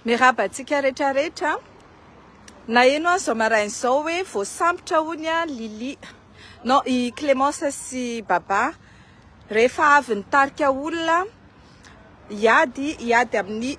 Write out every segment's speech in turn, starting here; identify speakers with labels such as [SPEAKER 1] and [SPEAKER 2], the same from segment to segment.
[SPEAKER 1] Miraba antsika rehetra rehetra. Naheno aho izao maraina izao hoe voasambotra hono an Lily. Non, i Clémence sy Baba rehefa avy nitarika olona Hiady hiady amin'ny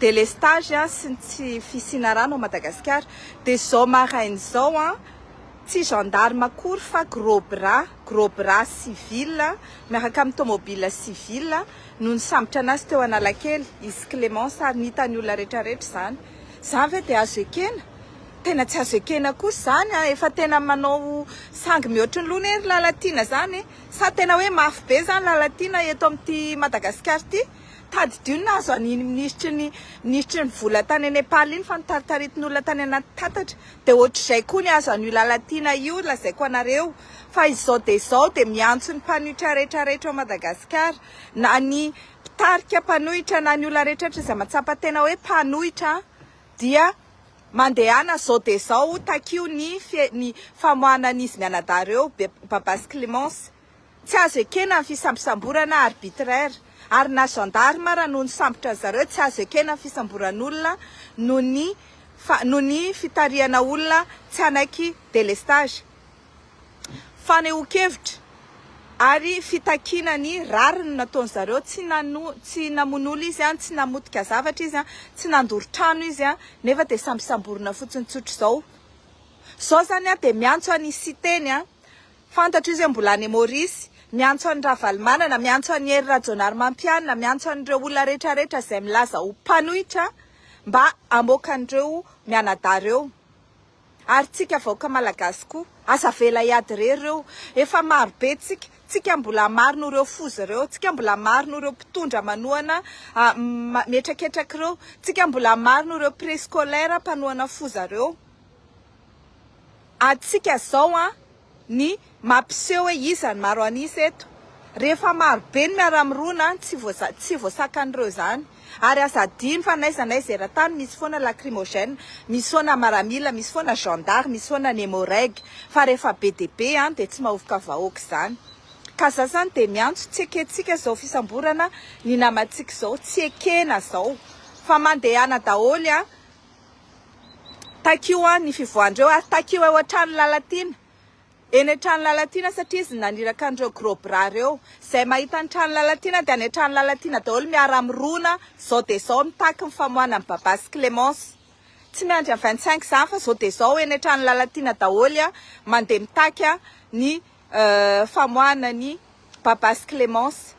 [SPEAKER 1] delestage sy ny tsy fisiana rano ao Madagasikara dia izao maraina izao an, tsy gendarme akory fa gros bras, gros bras civil miaraka amin'ny tomobile civil no nisambotra an'azy teo Analakely, izy Clemence ary ny hitan'ny olona rehetra rehetra izany. Izany ve dia azo ekena? Tena tsy azo ekena kosa izany an, efa tena manao sangy mihoatry ny loha anie ry Lalatiana izany e! Sa tena hoe mafy be zany Lalatiana eto amin'ity Madagasikara ity? Tadidio ny nahazo an'iny minisitry ny minisitry ny vola tany Nepal iny fa notaritaritin'olona tany anaty tatatra dia ohatr'izay koa ny azo an'io Lalatiana io lazaiko anareo fa izao dia izao dia miantso ny mpanohitra rehetra rehetra ao Madagasikara na ny mpitarika mpanohitra na ny olona rehetra rehetra izay matsapa tena hoe mpanohitra dia mandehana zao dia zao takio ny ny famoahanan'izy mianadahy ireo Babas Clémence. Tsy azo ekena ny fisambosamborana arbitraire ary na gendarme ara no nisambotra an-dry zareo tsy azo ekena ny fisamboran'olona noho ny noho ny fitarihana olona tsy hanaiky délestage. fanehoan-kevitra ary fitakiana ny rariny nataony zareo, tsy nano, tsy namono olona izy an, tsy namotika zavatra izy an, tsy nandoro trano izy an, nefa dia sambosamborina fotsiny tsotra izao. Izao izany aho dia miantso an' i Siteny an, fantatro izy hoe mbola any Maurice, miantso an'i Ravalomanana, miantso an'i Hery Rajaonarimampianina, miantso an'ireo olona rehetrarehetra izay milaza ho mpanohitra mba hamoaka an'ireo mianadahy ireo. Ary tsika vahoaka malagasy koa. Aza avela hiady re ireo. Efa maro be tsika. Tsika mbola maro noho ireo foza ireo. Tsika mbola maro noho ireo mpitondra manohana mihetraketraka ireo. Tsika mbola maro noho ireo prescolaire mpanohana foza ireo. Atsika zao an. ny mampiseho hoe iza ny maro an'isa eto. Rehefa maro be ny miara-mirona, tsy voaza, tsy voasakan'ireo izany. Ary aza adino fa n'aiza n'aiza eran-tany misy foana lacrymogène, misy foana maramila, misy foana gendarme, misy foana nemoreg. Fa rehefa be dia be an, dia tsy mahovoka vahoaka izany. Ka za zany dia miantso, tsy ekentsika izao fisamborana ny namantsika izao, tsy ekena izao. Fa mandehana daholo an. Takio an ny fivoahan'ireo ary takio eo an-trano Lalatiana eny an-trano Lalatiana satria izy no naniraka an'ireo gros bras ireo. Izay mahita ny trano Lalatiana dia any an-trano Lalatiana daholo miara mirona izao dia izao mitaky ny famoahana an'i Baba sy Clémence. Tsy miandry an'i vingt cinq izany fa izao dia izao eny an-trano Lalatiana daholo mandeha mitaky ny famoahana an'i Baba sy Clémence.